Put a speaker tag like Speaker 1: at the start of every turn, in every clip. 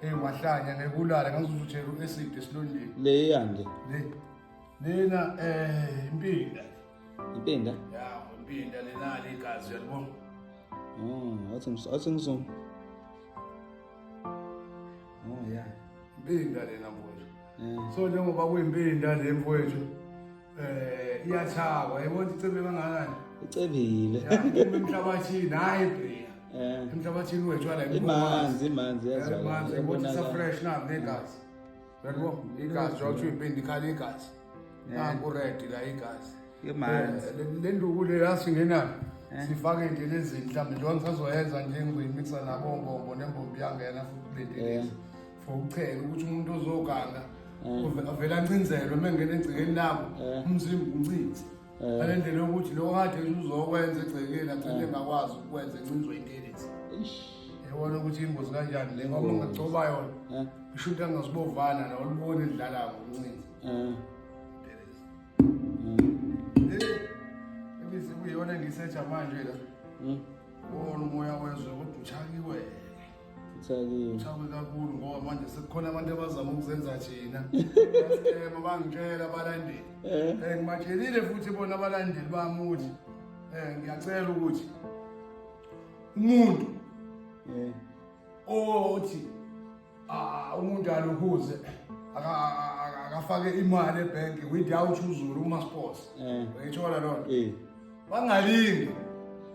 Speaker 1: Hey mahlanya ngekulala ngazuzutshela uacid esilondeni. Le yande. Le.
Speaker 2: Lena
Speaker 1: eh impinda. Impinda? Ya, impinda
Speaker 2: lena
Speaker 1: ligazi yalibona. Mm, athi athi
Speaker 2: ngizom. Oh yeah.
Speaker 1: Impinda lena mfowethu. Eh. So njengoba kuyimpinda le mfowethu. Eh iyathaba yabona icebe kangakani. Icebile.
Speaker 2: Emhlabathini
Speaker 1: hayi bria. Eh. Emhlabathini wethu ala imanzi imanzi
Speaker 2: yazala. Imanzi yabona sa fresh
Speaker 1: na negazi. Yabo igazi jawuthi uyipindi khali igazi. Nangu red la igazi. Imanzi.
Speaker 2: Eh, le nduku le
Speaker 1: yasingena. Eh. Sifake nje lezi mhlambe njengoba ngisazoyenza nje ngiyimikisa nabo ngombo nembombi yangena futhi kulendelezi. for ukuchela ukuthi umuntu ozoganga eh. avele ancinzelwe uma engena egcekeni labo eh. umzimba uncinze eh. ale ndlela yokuthi lo kade uzokwenza egcekeni agcine engakwazi ukwenza encinzwe intelezi yabona ukuthi ingozi kanjani le ngoba ungacoba yona isho into angazibovana la olubona edlala ngomncinzi ebise kuyona engisetsha manje la wona umoya wezwe kodwa uchakiwele Uthakile. Uthakwe kakhulu ngoba manje sekukhona abantu abazama ukuzenza thina. Basicema bangitshela abalandeli. Eh. eh ngibatshelile futhi bona abalandeli bami ukuthi eh ngiyacela ukuthi umuntu eh othi ah umuntu aluhuze akafake imali ebhenki without uzulu uma sports. Eh. Uyithola lona? Eh. bangalingi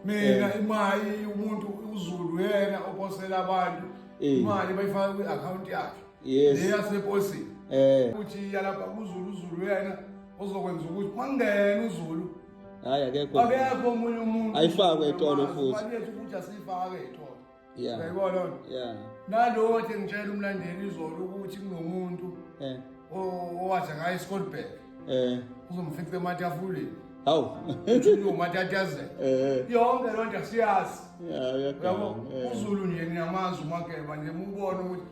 Speaker 1: mina eh. imali umuntu uzulu yena ophosela abantu eh. imali bayifaka kwi-akhawunti yakhe leyaseposini eh. ukuthi yalapha kuzulu uzulu yena ozokwenza ukuthi mangena uzulu hayi akekho
Speaker 2: akekho
Speaker 1: omunye umuntu ayifakwe etolo
Speaker 2: futhi ukuthi asiyifake
Speaker 1: etolo Yeah.
Speaker 2: Uyayibona lona? Yeah.
Speaker 1: Nalowo nje ngitshela umlandeli izolo ukuthi kunomuntu Eh. o- owathi ngaye eScottburg. Eh. Uzomfica ematafuleni. Hawu. Uthi uyomatatazela. Eh. Yonke loo nto siyazi. Yeah, uyaganga. Uyabo? Eh. UZulu nje ngiyamazi uMageba nje mubone ukuthi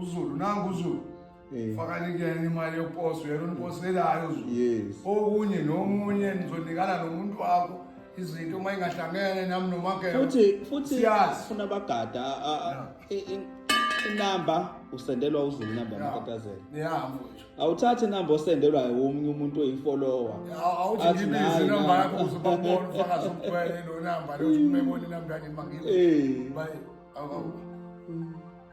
Speaker 1: uZulu nangu uZulu. Eh. fakani kuyena imali yokuposa uyena uniposelayo yes. okunye nomunye nizonikana nomuntu wakho izinto uma ingahlangene nami nomakefuthi futhi
Speaker 2: funa bagada inamba usendelwa uzulu inamba yamatatazela
Speaker 1: awuthathi inamba
Speaker 2: osendelwa womunye umuntu oyifollower awuthi ngibize inamba
Speaker 1: yakho uzobabona ufakazi umkhwele lo namba lothi umebona inamba yakhe mangiyo eh.